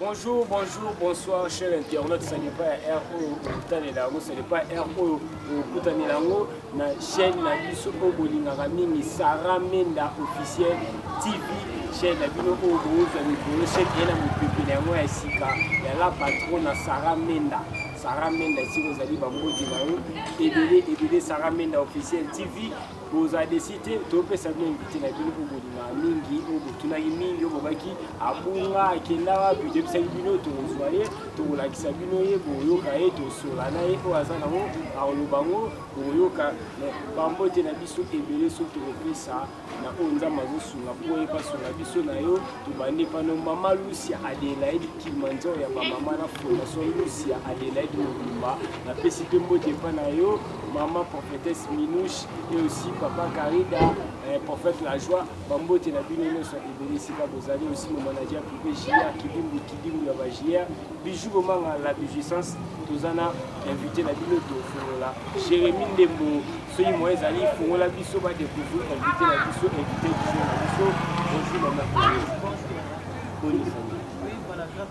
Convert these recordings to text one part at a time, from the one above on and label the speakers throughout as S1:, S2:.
S1: Bonjour, bonjour, bonsoir, cher internaute, ce n'est pas R oyo okotanela yango, ce n'est pas R oyo okotanela yango na chaîne na biso oyo bolingaka mingi Sarah Menda officiel TV chaîne na bino oyo bozwa mikolo chaîne eye na mopepe na yango ya sika ya la patrona Sarah Menda Sarah Menda esika ozali bamboti na yo ebele ebele Sarah Menda officiel TV boza desi te topesa bino invité na bino oyo bolingaka mingi oyo botunaki mingi oyo bobaki abunga akenda wapi toyebisaki bino tozwa ye tokolakisa bino ye boyoka ye tosola na ye oyo aza nango akoloba yango boyoka bambote na biso ebele soki tokopesa na oyo nzambe azosunga mpo oyeba sunga biso na yo tobandi pano mama lucia adelaide kilimanjaro ya bamama na fondation lucia adelaide mobimba napesi mpe mbote epa na yo maman prophétesse Minouche et aussi papa Karida, eh, prophète La Joie, bambote na bino nyonso ebele esika bozali aussi mon manager privé JR Kidimbu Kidimbu ya ba JR Bijou Bomanga la Bijuissance toza na invité na bino tofungola Jérémie Ndembo soki moye ezali fungola biso ba découvrir invité na biso invité du jour na biso bonjour maman Bonne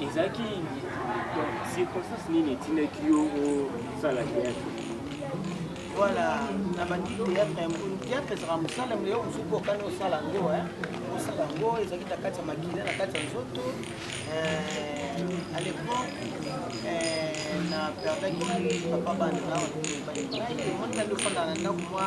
S1: Ezalaki circonstance nini etindaki yo osala théâtre? Voilà,
S2: na bandi théâtre ya mokolo. Théâtre ezalaka mosala mele yo mosuku okani osala yango, osala yango ezalaki na kati ya makila, na kati ya nzoto. Euh, à l'époque, euh, na perdaki papa bana na bato baye. Ngai, omoni ngai ofanda na ndako mwa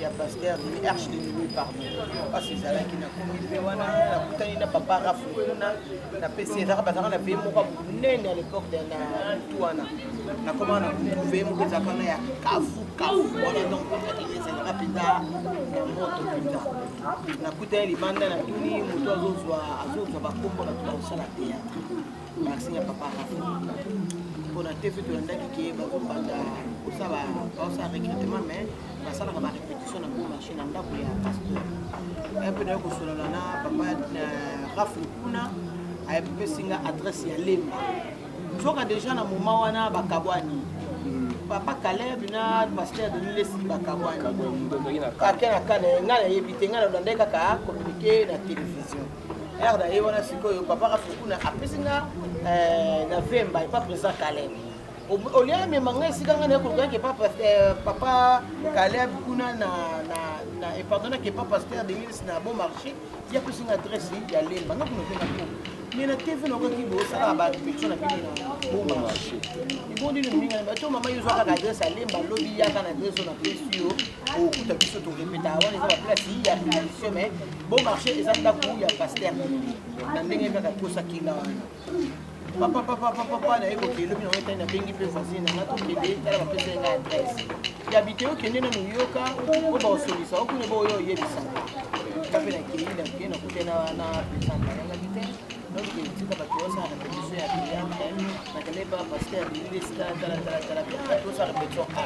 S2: ya pasteur de arche de nuit pardon mpasi ezalaki na komite wana nakutani na papa rafu kuna napesi ezaka bazalaka na veye moko monene à l'époque de na mutu wana nakoma na kutu veye moko ezalaka na ya kafu kafu wana donc ezalaka mpenza na moto mpenza nakutani libanda na tuni moto azozwa azozwa bakombo na tuna kosala théâtre Merci ya papa mpona tv tolandaki ke bakobanda kosala baosala recrutement mais basalaka ba repetition na gros marché na ndako ya pasteur mpe naye kosolola na papa rafle kuna apesi nga adresse ya lemba nzoka deja na moma wana bakabwani papa caleb na pasteur denis lesi bakabwani ake na kane ngai nayebi te ngai nalandaki kaka communiqué na télévision heure na ye wana sikoyo papa kafukuna apesi nga eh, na vemba epa président caleb olie amema ngai esika ngai nayekolukaki epa eh, papa caleb kuna na epardonaki epa pasteur demilis na bon marché ti apesi nga adresse ya lemba nga kuna openga po mais na tv nakoki bosalaka barepetion na bino na bon marché ebondi no mingi bato mama yo ozwa kaka adresse ya lemba lobi yaka na adresse oyo napesi yo okuta biso torepeta wana eza baplace ya repetition mais Bon marché eza ndako ya pasteur na ndenge kaka kosa kila wana papa papa papa papa naye kokende lobi nango etani nabengi mpe voisine nanga tokende tala bapesa nga adresse ya bite okende na moyoka po baosolisa okune boyo oyebisaka nga mpe nakei nakei nakute na wana pesanga yanga bite donc tika bato osala na petition ya biyambe nakende pa pasteur abili esika talatalatala bia tosala petition a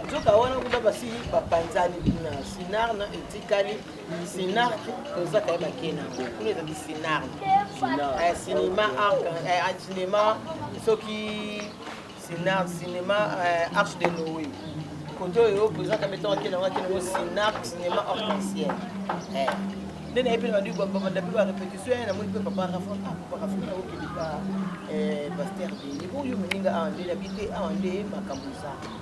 S2: nzoka wana kuna basi bapanzani kuna sinar na etikali Sinarc toza kaye bake na yango kuna ezali sinarc eh, cinéma arc eh, ah, cinéma soki sinarc cinéma eh, arche de noé kote oyo président kamete ake nango ake nango sinarc cinéma arc-en-ciel nde nayebi na bandi babanda mpe barépétition ya namoni mpe papa rafa ah, papa rafa okendika pasteur bini oyo moninga awa nde nabi te awa nde makambo eza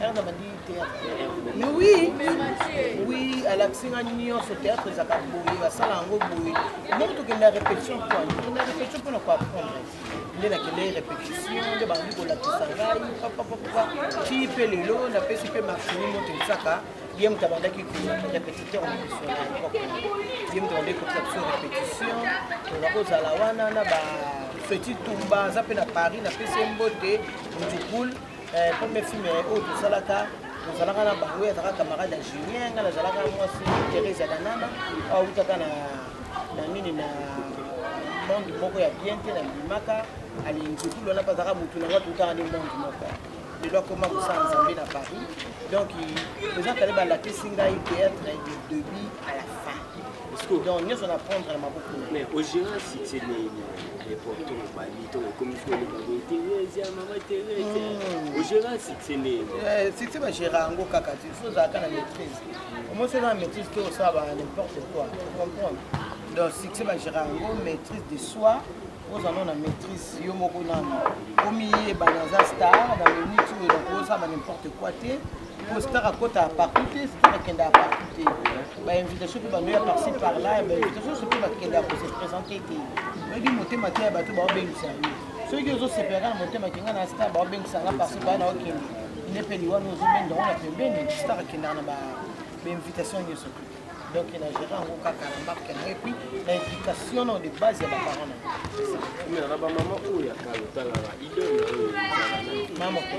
S1: Herve abandi théâtre.
S2: Mais oui, oui, alakisi nga nyonso théâtre ezalaka boye, basala yango boye. Ndenge tokenda répétition mpo tokenda répétition mpo na koapprendre. Nde nakendaki répétition, nde bandi kolakisa ngai papapapa. Ti mpe lelo napesi mpe maximi moto esaka ye moto abandaki répétiteur na biso na époque. Ye moto abandaki kopesa biso répétition, toza kozala wana na ba Feti Tumba aza mpe na Paris, napesi ye mbote Mujukul Eh, premier film eh, oyo tosalaka tozalaka na bango ye azalaka camarade ya julien ngai nazalaka mwasi therese ya danana awutaka na na nini na monde moko ya bien te na bimaka alingikulu wana mpe azalaka motu na ngai toutaka nde monde moko lelo akoma kosala nzambe na paris donc toza kale balakisi ngai théâtre de debut à la fin donc nyonso na prendre na maboko mais ogérant
S1: succès nini reporto obandi to ekomi koleka boye therese ya mama therese hmm. ogérant succès nini eh, succès bagéra
S2: yango kaka ti fo ozalaka na maîtrise omosi oza na maîtrise te osala ba n'importe quoi comprendre donc succès bagéra yango maîtrise de soi ozala na maîtrise yo moko nano omiyeba naza star na minute oyo nakosala n'importe quoi te Star akota partout te, Star akenda partout te. Ba invitation mpe bando ya parci par là, ba invitation soki bakenda ko se présenter te. Oyebi motema te ya bato baobengisa yo. Soki ozosepelaka na motema kenga na Star baobengisa nga parci par là okende. Nde mpe liwa no ozobenda yango na pembeni, Star akendaka na ba invitation nyonso te. Donc na géré yango kaka na marque na ye puis na éducation na de base ya ba parents na ye. Mais na
S1: ba maman oyo ya kala otalaka idole na oyo. Maman
S2: ko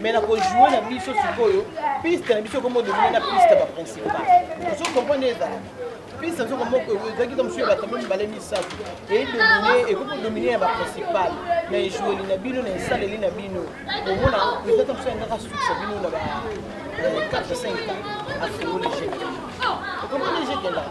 S2: mais na kojoue na biso sikoyo piste na biso ekomo domine na piste ba principal ozo comprendre ezala piste nazo komoko ezalaki ta mosusu ya bato mibale misato edomine ekoki kodomine ya ba principal na ejueli na bino na esaleli na bino omona president ta mosusu yangaka sukisa bino na ba 4 5 afungoli jeu okomona jeu kendaka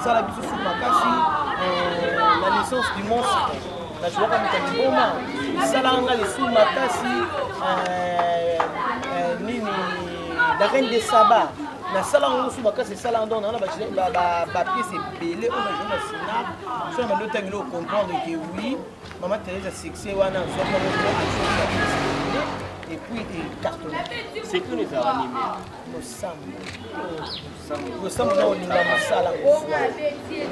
S2: esala biso su makasi eh, na licence du monstre nazuwaka moto ya liboma esalaka nga lisu makasi eh, eh, nini la reine de saba nasalaka ngo su makasi esalaka ndongo nanga na bapiese ebele oyo nazali na sinap so na bando ntangi leo comprendre ke oui Maman Thérèse a succès wana azwa moko et puis et carton. C'est que les
S1: animés. Losambo.
S2: Losambo na olinga mosala.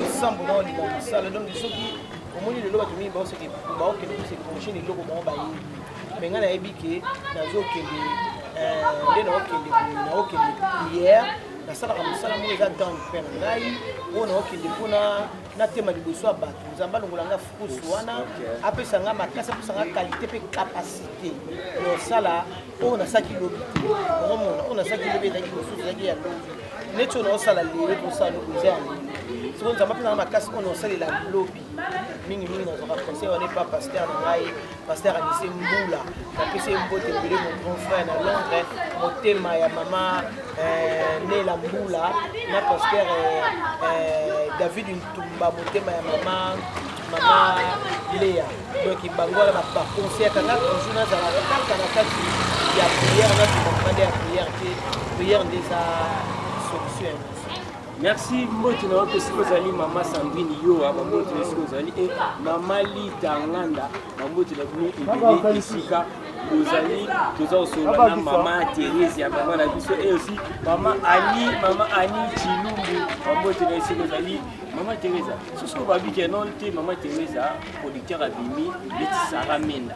S2: Losambo na olinga mosala. Donc soki omoni lelo bato mingi baoseke baokende kose prochaine eloko bango bayebi me ngai nayebi ke nazokende eh, nde naokende naokende prière nasalaka mosala moko eza dan mpe na ngai oyo naokende mpona natema liboso ya bato nzambe alongola ngai pousse wana apesa nga makasi apesa nga qualité mpe capacité ya osala oyo nasalaki lobi omona oyo nasalaki lobi ezalaki mosusu ezalaki ya lobi neti oyo naosala lelo tosala lobi eza yango sikoyo nzambe apesa nga makasi oyo naosalela lobi mingimingi nazwaka conseil wana epa paster na ngai Pasteur Anise Mbula, napesi ye mbote ebele mon grand frère na Londres, motema ya mama euh, Nela Mbula na pasteur euh, euh, David Ntumba, motema ya mama mama Lea. Donc bango wana ba ba conseil kaka toujours nazala kaka na kati ya prière na tuma mokanda ya prière te prière nde eza solution ya nyonso.
S1: Merci mboti na yope siko ozali mama Sandrine Yoa bamboti na siko ozali e mama Lita Nganda bamboti na bino ebele esika ozali toza kosolola na mama Therese ya mama na biso e aussi mama Ani mama Ani Chilumbu bamboti na siko ozali mama Theresa soso babike non te mama Theresa producteur abimi leti Sarah Menda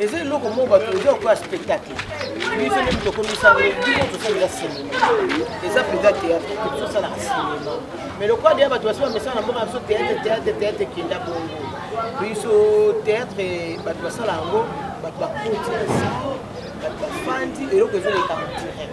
S2: eza eloko moko bato eza lokola spectacle biso nde moto ekomisango bino tosalaka sinema eza mpenza théâtre biso osalaka sinema mais lokola deya bato basi bamesana na mboka na biso théâtre théâtre théâtre ekenda bongo biso théâtre bato basala yango bato bakoti na sala bato bafandi eloko ezoleka direct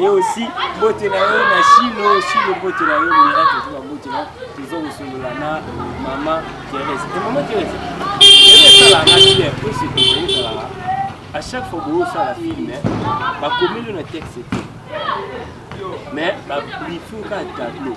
S1: Et aussi, mbote na yo na Shilo, Shilo mbote na yo miracle to mbote na tozo kosolola na mama Thérèse. Et mama Thérèse, elle est là na bien, pour ce que je suis là. À chaque fois que vous ça la film, ba communion na texte. Mais ba briefing ka tableau.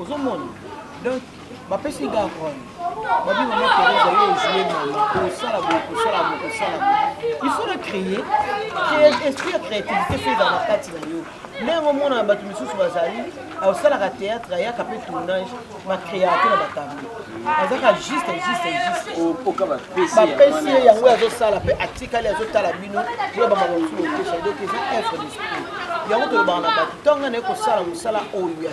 S2: ozomona donc bapesi nga role babi mama teresa yo ojue mama kosala boye kosala boye kosala boye il faut na créer esprit ya créativité mpe ezala na kati na yo ndenge omonana bato mosusu bazali aosalaka théâtre ayaka mpe tournage bakreate na batablo azaka juste juste juste bapesi ye yango azosala mpe atikali azotala bino yo bamaka mosusu okesa donc eza œuvre d'esprit yango tolobaka na bato ntango ngai naye kosala mosala oyo ya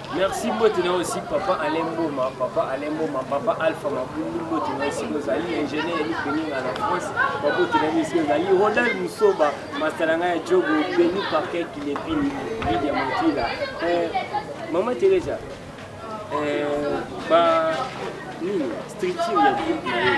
S2: Merci
S1: mbote na aussi papa Alain Mboma, papa Alain Mboma, papa Alpha Mabundu mbote na aussi ozali ingénieur ya Beninga na France, mbote na aussi ozali Ronald Musoba, masalanga ya Jogo, Beni Parquet Kilepini, Lydia Motila. Euh, Maman Teresa, euh, ba nini structure ya groupe na ye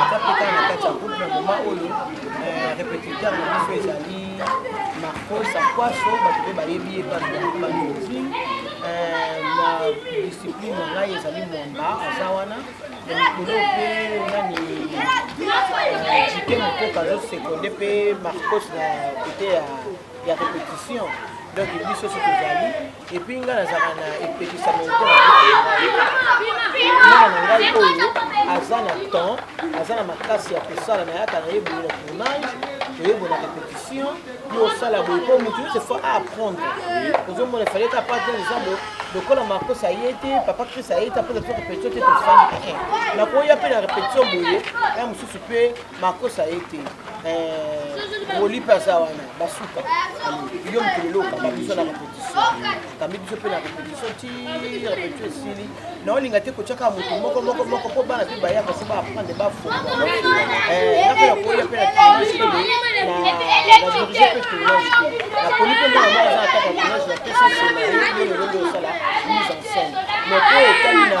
S2: aza mpe kaka na kati ya groupe na moma oyo euh, repetiteur na biso ezali marco sakwaso bato mpe bayebi ye bamiozi euh, na discipline na ngai ezali mwamba aza wana na mikolo mpe nani jike euh, mokoka azosekonde mpe marcos na kote ya ya repetition donc biso soki tozali epuis ngai nazalaka na epekisama mwana na ngai oyo aza na temps aza na makasi ya kosala na yaka na ye boye na tournage toyebona repetition yo osala boye mpo motu nyonso fo aapprendre ozomona efale ta pate eza bo lokola marcos aye te papa chris aye te apesa biso repetition te tofandi nakoya mpe na repetition boye ya mosusu mpe Marcos aye te eh, Woli mpe aza wana basuka yo mokili lelo okamba biso na repetition okambi biso mpe na repetition ti repetition esili na olinga te kotyaka moto moko moko moko mpo bana mpe bayaka se baaprendre bafonga eh, nakoya koya mpe na tournage mpe nadirige mpe tournage te naponi mpe mwana moko aza ataka tournage na pesi nsima yo lelo nde osala mise en scène mais mpo etali na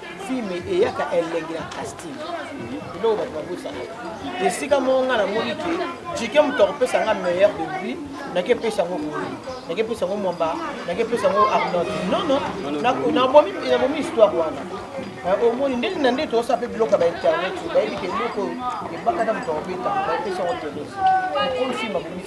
S2: filme eyaka elengi na casting biloko bato babosana esika moko ngai namoni ke jike moto akopesa ngai meilleur de lui nakepesa yango koli nakepesa yango mwamba nakepesa yango arnold nono nabomi histoire wana eh, omoni nde na nde toosa mpe biloko ya bainternet bayebi ke biloko ebakata moto akobeta bayepesa yango telesi okolo filme akomi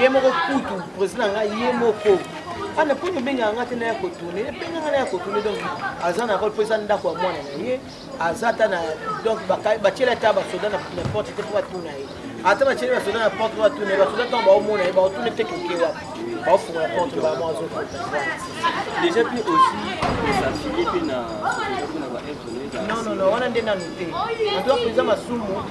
S2: ye moko kutu président na ngai ye moko ana mpo nobengaka ngai te na ya kotourne ebenga ngai na ya kotourne donc aza na role mpo eza ndako ya mwana na ye aza ata na donc batyela ata basoda na porte te mpo batuna ye ata batyeli basoda na porte mpo batuna ye basoda ntango baomona ye baotuna te koke wapi baofungola porte bamo azokota déjà
S3: mpe aussi esafiye mpe na
S2: non non non wana nde nanu te antoa mpenza masumu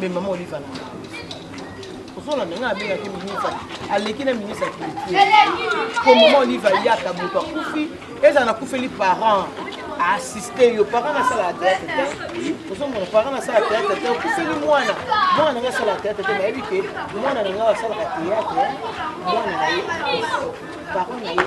S2: Mais maman Olive alanda ozona ndenge abengaki ministre aleki na ministre ya culture po mama olive ayaka moto akufi ezala nakufeli parent aassiste yo parent nasala teatre te ozomona parent nasala teatre te okufeli mwana mwana nanga asala teatre te nayebi ke mwana nanga asalaka teatre mwana na ye parent na ye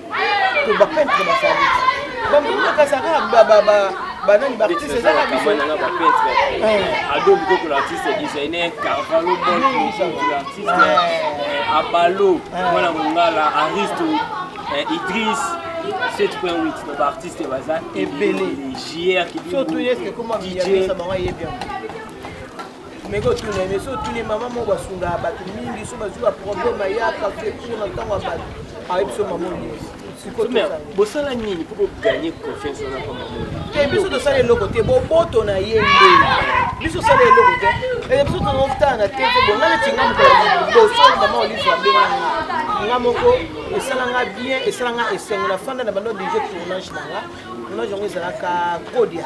S2: to ba peintre ba sali ba mbona ka saka ba ba ba ba nani ba artiste eza na biso na ba peintre
S3: eh. ado biko ko artiste designer carvalho bon ko artiste eh. abalo eh. mwana mongala aristo idris 7.8 na ba artiste baza ebele jr ki surtout yeske koma
S2: DJ, meke otuna ye mais so otuni ye mama moko asungaka bato mingi so bazwi baproblème ayaka fekuna na ntango ya bato ayebi so mama onyesi
S3: bosala nini mpo boganye confiance wana mpo te biso tosala eloko
S2: te boboto na ye nde biso osala eloko te ee biso tozotala na te te bonga neti nga mokolo liboso mama olive abenga nga nga moko esala nga bien esala nga esengo na fanda na bando deje tournage na nga tournage yango ezalaka kodia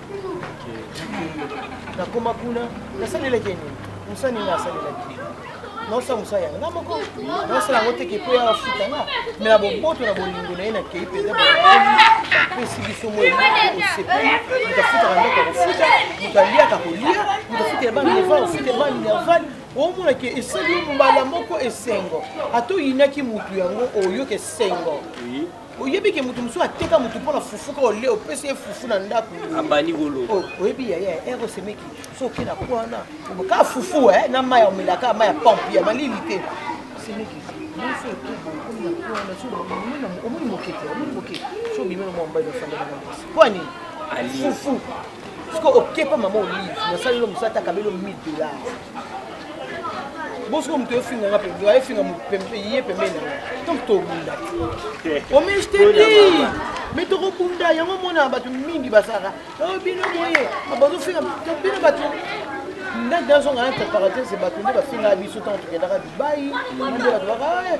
S2: nakoma kuna nasalelaki ye nini mosala nini asalelaki naosala mosala yango nga moko naosala yango teke mpo ya afuta nga me na boboto na bolingo na ye nakei mpenza bapesi biso moi osepeli moto afutaka ndako ya kofuta moto aliaka kolia moto afutela bana nevale ofutela bana minervale omona ke esali mbala moko esengo ata oyinaki motu yango oyoka esengo oyebi ke moto mosusu ateka moto mpo na fufu kaka olie opesi ye fufu na ndako abandi koloba oh,
S3: oyebi yaya
S2: ero semeki so oke na ko wana kaka fufu eh, na mai ya omela kaka mai ya pompe ya malili te semeki nyonso etobo okomi na ko wana omoni moke te omoni moke so obimi na mwa mobali ofandaka na mwasi mpo ani fufu siko okepa mama olive nasalelo mosala ta kabelo 1000 dollars bosiko moto efinga nga pembe aye finga ye pembeni na nga donc tobunda omestedi me tokobunda yango omona bato mingi basalaka oh, bino boye bazofinga bino bato ndenge azonga na préparatrice bato nde bafingaka biso ntango tokendaka dubai nde bato baka eh,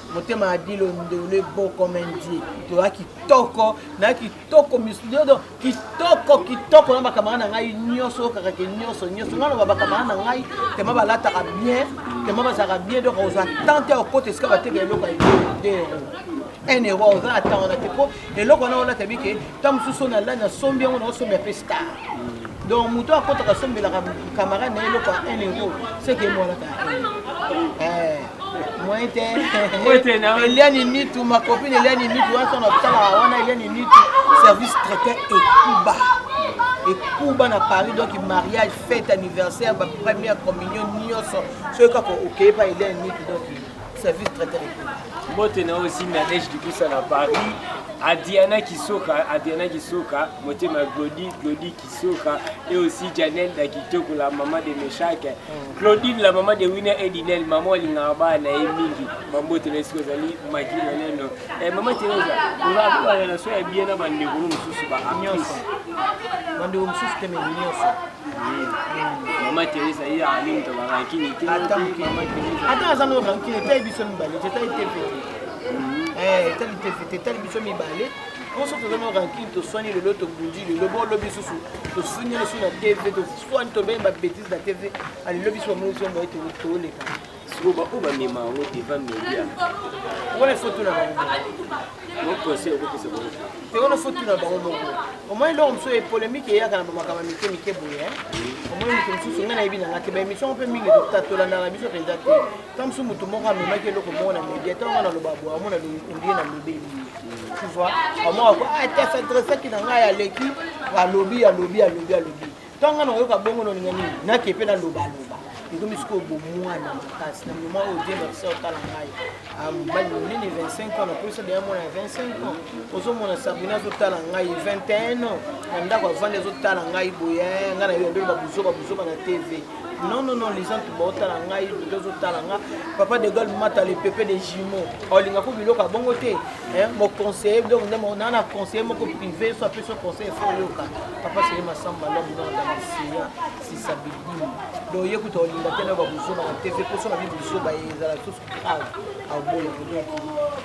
S2: motema ya dilo ndole bo comme ndie toya kitoko na kitoko misdodo kitoko kitoko na bakamara na ngai nyonso oyokaka ke nyonso nyonso ngai loba bakamara na ngai tema balataka bien tema bazalaka bien donc ozwa tante ya okota esika bateka eloko ya 2 euro 1 euro oza na ntango na te po eloko wana olata bike ntango mosusu na lani asombi yango naosombi ape star donc moto akotaka asombelaka camarade na ye eloko ya 1 euro seke emwanaka eh, moyen te eliani nitu makopine eliani nitu wana ntango nasalaka wana eliani nitu service traité ekuba ekuba na paris donc mariage fête anniversaire bapremière communion nyonso soki kaka okei pa eliani nitu donc service traiteur mbote na
S1: oyo simbi nadege kikusa na paris adiana kisoka adiana kisoka motema glodi glodi kisoka et aussi janel da kitoko la mama de meshake mm. claudine la mama de winer edinel mama alingaka bana na ye mingi bambote na ye soki ozali maki moneno eh, mama teresa ozalakobana na so ya bie na bandeko no mosusu baanyonso bandeko
S2: mosusu teme nyonso ata aza no rankine etali biso mibale te etali te mpe te etali te mpe te etali biso mibale biso toza na rankine toswani lelo tobundi lelo bolobi lisusu tosunyani su na tv toswani tobei babetise na tv alelo biso bamoni biso moye toleka siko baoyo bamema
S1: yango devant media wana ifo
S2: tuna bango moconseil
S1: okopesa bango te wana ifo tuna
S2: bango moko omoi eloko mosusu epolemike eyaka na bamakambo mike mike boye omoi moto mosusu ngai nayebi na ngai te baémission mpe mingi tolandaka biso mpenza te ta mosusu moto moko amemaki eloko moko na media ta yango naloba boye amona ondie na lobeli tu vois amoko akoa te s'adressaki na ngai aleki alobi alobi alobi alobi ntango nakoyoka bongo noninga nini nake mpe nalobaloba ekomi sikoyo bomwana makasi na moma oyo diemba bisa otala ngai ah, mobali monene 25 ans napolisa deya mwana ya 25 ans ozomona sabrina azotala ngai 21 ans na ndako avandi azotala ngai boye eh, ngai na yo yandelo babuzoba buzoba na tv non non non les gens baotala ngai lelo ozotala nga papa de gol mata le pepe de jumeau olinga ko biloko ya bongo te eh, moconseiller donc nde naa na conseiller moko privé so apesi yo conseil fo oyoka papa sele masamba lobi na ndamisiya sisa bidimu donc ye kuta olinga te na babuzoba na tv poso na bibuzoba ye ezala susu grave aoboya donc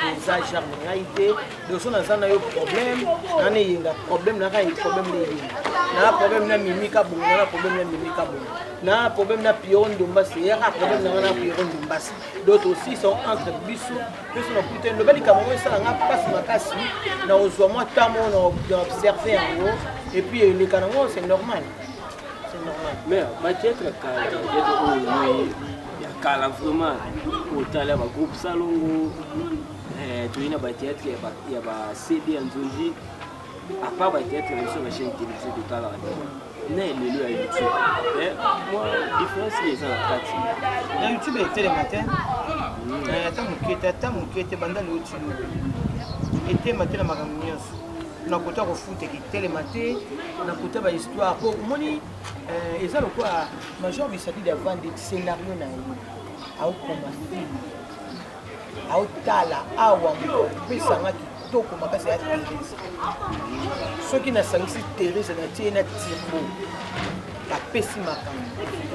S2: eza genre na ngai te doso naza na yo problème nana eyenga problème naka ye problème na eyenga naa problème na mimi kabongo nana problème na mimi kabongo naa problème na piero ndombasi eyaka problème nanga na piero ndombasi donc aussi sont entre biso biso na kuta loba likambo yango esala nga mpasi makasi na ozwa mwa ntango na observe yango epuis eleka nango c'est normal c'est normal
S1: mais bajetre kala bajetre oyo ya kala vraiment otala bagroupe salongo eh, toyei na bateatre ya bacd ya nzonzi apart bateatre na biso na chaîne télévisé totalaka na elelo ya youtube eh, mwa difference nde eza na kati na youtube etelema
S2: te hmm. eh, ata moke te ata moke te banda leo tino etelema te na makambo nyonso na kota kofuta ekitelema te na kota bahistoire mpo omoni eh, eza lokola major bisadide avandi scenario na ye aokoma film aotala awa pesanga kitoko makasi ya therese soki nasangisi therese natie na tirbo bapesi makambo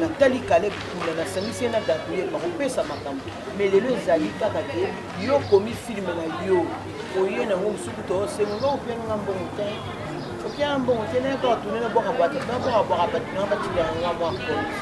S2: natali kale kuna nasangisi ye na gabriel bakopesa makambo me lelo ezali kaka te yo komi filme na yo oye nango mosuku toosengo nga opiananga mbongo te opianga mbongo te nayaka batune na bwaka bato na bwaka bwaka bato na batika yanga mwa konti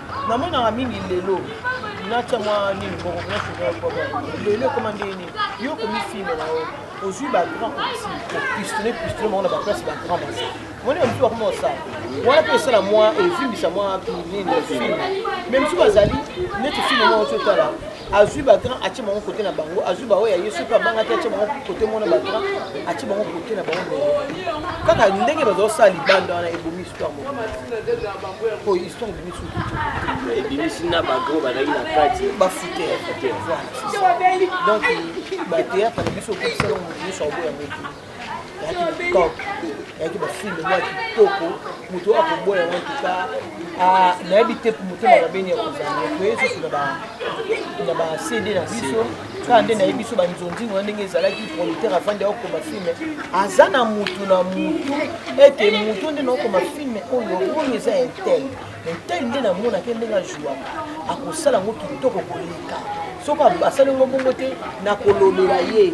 S2: namonaka mingi lelo natya mwa nini moko lelo ekoma ndenge nini yo komifime na yo ozwi bagrand kopistole pistole moko na baplace bagrand basa moni ya mosusu bakoma osala wana mpe esala mwa evimbisa mwa nini filme me mosusu bazali neti filme moko totala azwi ba grand atie bango kote na bango azwi baoyo ya ye soki abangaki atie bango kote mona ba grand atie bango kote na bango kaka ndenge bazosala libanda wana ebomi histoire moko po histoire ebomi soki ebimisi
S3: na bagro bazalaki na kati bafuter
S2: donc bateatre na biso okokisala moto nyonso aoboya motu yaki bafilme mwa kitoko moto oyo akoboya yango tuka ah, nayebi te motema babeni ya kozala toye susu na bacd na biso kaka nde nayebi biso banzonzingo na ndenge ezalaki producteur afandi akokoma filme aza na motu na motu ete motu nde naokoma filme oyo oyo eza intel intel nde namonaki ndenge ajuaka akosala yango kitoko koleka soki asali yango bongo te nakolobela ye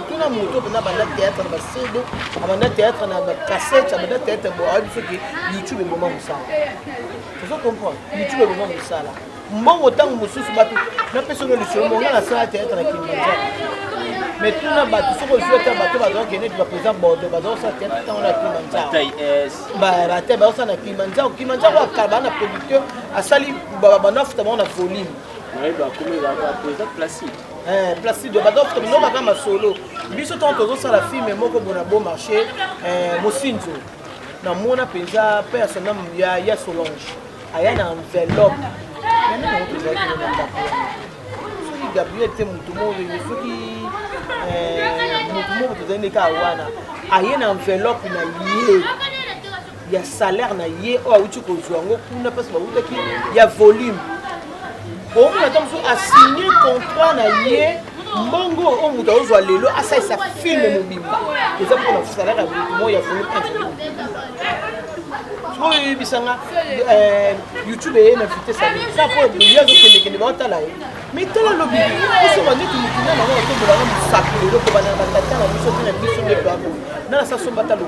S2: kuna moto oyo mpenza banda théâtre na basede abanda théâtre na bacassette abanda théâtre bo ayebi soki youtube eboma mosala ozo comprendre youtube eboma mosala mbongo ntango mosusu bato napesa ono lisolo monga nasala théâtre na kinbanza mais tuna bato soki ozwi ata bato bazala kende ti bapeza bordo bazala kosala théâtre ntango na kimanzaobate bazosala na kimanzao kimanzao akala baa na producteur asali banafuta bango na volume
S3: Eh, placido
S2: badof tomindoka kaka masolo biso ntango tozosala filme moko bona bo marché eh, mosinzo namona mpenza mpe ya soname ya, ya solange aya na enveloppe yango yango mpenza kino na ndako soki gabriel te motu moko soki eh, motu moko tozali nde kaka wana aye na enveloppe na ye ya salaire na ye oyo awuti kozwa yango kuna mpasi bawutaki ya volume okomi ata mosusu asigne contrat na ye mbongo oyo moto aozwa lelo asalisa filme mobimba eza mpona salaire ya moto moi ya volume oyo eyebisanga eh, youtube eye na vitesse ya eza mpo boye azokendekende baotala ye mais tala lobi osoba neti mokina nango atombolanga mosapi lelo kobanda na batata na biso mpe na biso nde baboye nana sasomba talo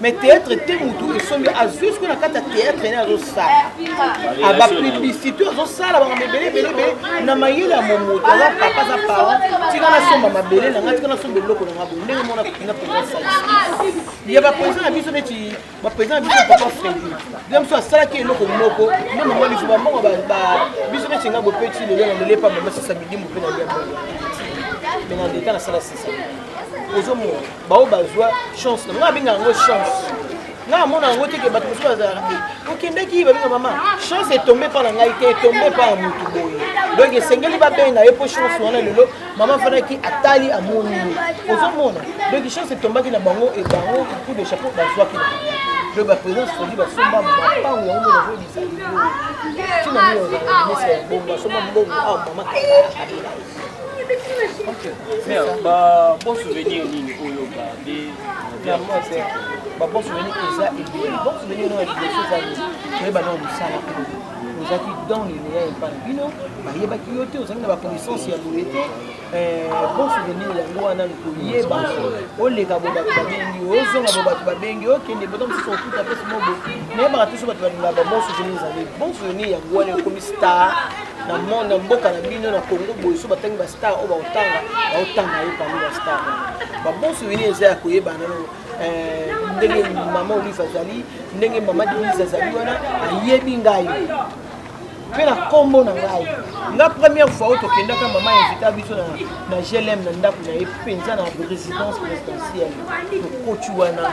S2: mais théâtre te motu esombi azwi soki na kati ya théâtre ne azosala ah, bapublicité azosala banga mebele ebelebe na mayele ya momoto aza papa aza parent tika nasomba mabele na ngai tika nasomba eloko na ngai boye ndenge mona na président salisi ya baprésident na biso neti baprésident na biso papa fredi bia biso asalaki eloko moko nde mama biso bambongo biso neti ngai bopeti lelo na lelepa mama sisa midimu mpe na lia bongo me na leta nasala sisa ozomona baoyo bazwa chance na ngai abenga yango chance ngai amona yango te ke bato mosusu bazalaka te eh, okendaki babenga mama chance etombe mpa na ngai te etombe mpa ya motu boye donc esengeli babenga ye mpo chance wana lelo mama afandaki atali amoni ye ozomona donc chance etombaki na bango e bango coup de chapeau bazwaki na donc baprésidence fodi basomba mapango yango mona zoyebisa lelo ntina nini ozaa mesa ya bongo basomba mbongo awa mama abela ye
S3: bon souvenir nini oyo babe vraiment
S2: te babon souvenir eza ebele bon souvenir nao ya liboso ezali toyeba nao mosala ozalaki dans lineya epa na bino bayebaki yo te ozalaki na baconnaissance ya boye te bon souvenir yango wana koyeba oleka bo bato babengi ozonga bo bato babengi okende bota mosusu okuta mpe simobo nayebaka toso bato balingaka bon souvenir ezali bon souvenir yango wana ekomi star na monde na mboka na bino na congo boye so batangi bastar oyo baotanga baotanga ye parmi bastar babonso wini eza ya koyebana no eh, ndenge mama olive azali ndenge mama denise azali wana ayebi ngai mpe na nkombo na ngai nga première fois oyo tokendaka mama invita biso na, na glm na ndako na ye mpenza na résidence présidentielle tokoti wana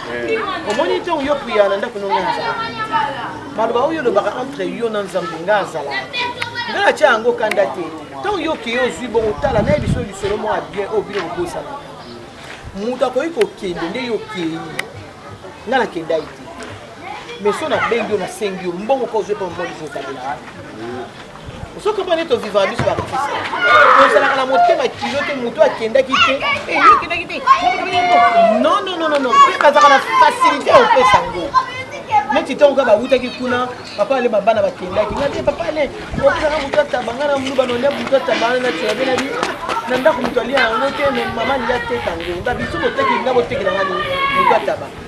S2: omoni ntango yo priya na ndako nonga azala maloba oyo olobaka entre yo na nzambe nga azala nga natya yango kanda te ntango yo okeye ozwi bongo tala naye biso lisolo moko ya bien oyo bino kobosanaka moto akoki kokende nde yo okei nga nakendai te mais so nabengi yo nasengi yo mbongo ka ozwi epa mobali zozalela soki omoni to vivaka biso baartiste tozalaka na motema kilo te motu akendaki te eyokendaki te non non non non mpe bazalaka na facilité ya kopesa yango neti ntango kaka bawutaki kuna papa ale babana bakendaki nga te papa ale opesaka motu ataba nga na muluba nolia motu ataba wana na tilabe na bi na ndako moto alia yango te me mama alia teka yango nga biso boteki nga botekela nga motu ataba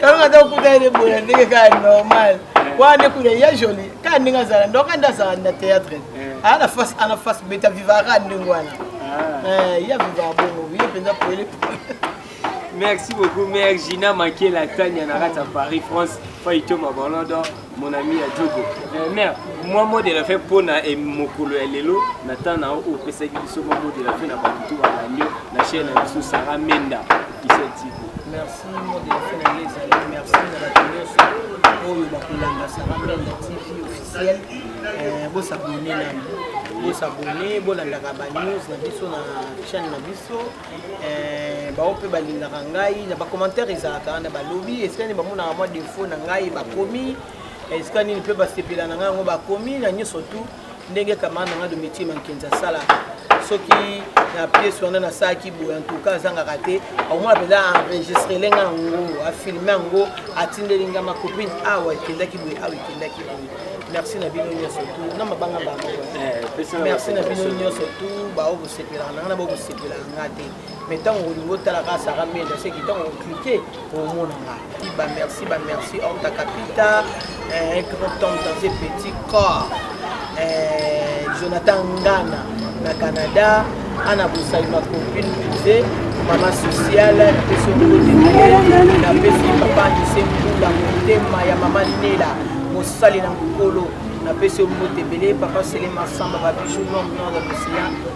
S2: kalonga ata okuta ye boya ndenge kaka normal wana nde kuna ya joli kaka ndenge azala ndo kanda azala na théâtre eh. aa na face ana face beta viva kaka ndenge wana ah. eh, ya viva bongo ye mpenza pele
S3: merci beaucoup mère gina makela tania na kati ya paris france faitoma bolodo mon ami ya jogo eh, mère mwa mot de la fin mpo na eh, mokolo ya lelo na temps na oyo opesaki biso mwa mot de la fin na bato to balandi yo na chaîne na biso sara menda officiel tv merci mot de la
S2: fin na ye ezali merci na bato nyonso oyo bakolanda sara menda tv officiel eh, bosabone nani bosabone bolandaka banews na biso na chaîne na biso Eh, baoyo mpe balingaka ngai na bacommentaire ezalaka na balobi esika nini bamonaka mwa defo na ngai bakomi eh, esika nini mpe basepela na ngai yango bakomi na nyonso tu ndenge kamara na ngai domitie mankenzi asalaka soki na piese wana nasalaki boye antuka azangaka te akomona mpenza enregistrele ngai yango afilme yango atindeli ngai makopine awa ekendaki boye awa ekendaki boye merci na bino nyonso tu na mabanga bango eh, merci na bino nyonso tu baoyo bosepelaka na ngai na nga te mais ntango olingi otala kaka sara menda seki ntango oklike omona nga ba merci ba merci orta capita eh, grand temps dans un petit corps eh, jonathan ngana na canada ana bosali ma copine puse mama sociale napesi okote napesi papa anise mbula motema ya mama nela mosali na mokolo napesi yo mbote ebele papa selema samba babiju nom nom ya mosiya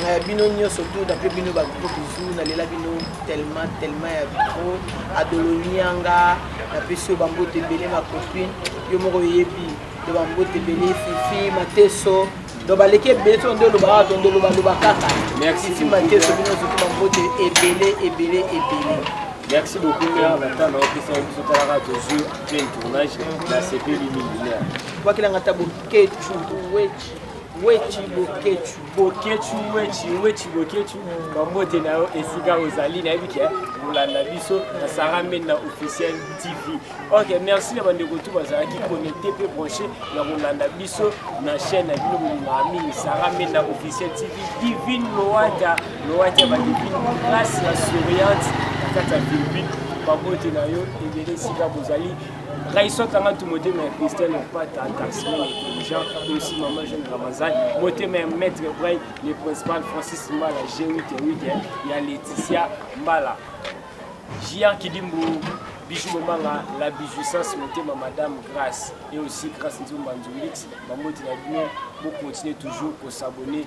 S2: Eh, bino nyonso tout apres bino bagroupe bizu nalela bino tellement tellement ya trop adolonianga napesi yo bambote ebele macopine yo moko oyebi do bambote ebele fifi mateso do baleki ebele to nde olobaka to nde olobaloba kaka fifi mateso bino nyonso to bambote ebele ebele ebele
S3: merci beaucoup mea bata na opesa biso talaka tozwi apres tournage nasepeli mingi mea wakelanga ta
S2: boketu wechi Wetshi Boketshu.
S1: Boketshu Wetshi Wetshi Boketshu bambote na yo esika ozali nayebi ke kolanda biso na Sarah Mena officiel TV. Ok, merci na bandeko tu bazalaki connecté mpe branché na kolanda biso na chaîne ya bino bolingaka mingi Sarah Mena officiel TV. Divine Loata Loata ya badivine place ya souriante na kati ya Philippines. Babote na yo ebele esika bozali Raison kanga tu motema ya Christian Pata Taxman intelligent aussi maman jeune Ramazan motema ya maître Bray le principal Francis Mbala G8 weekend ya Laetitia Mbala Gia Kidimbu Bijou Bomanga la bijousance motema madame Grace et aussi Grace Nzumba Nzulix bamoti na bino bo continuer toujours ko s'abonner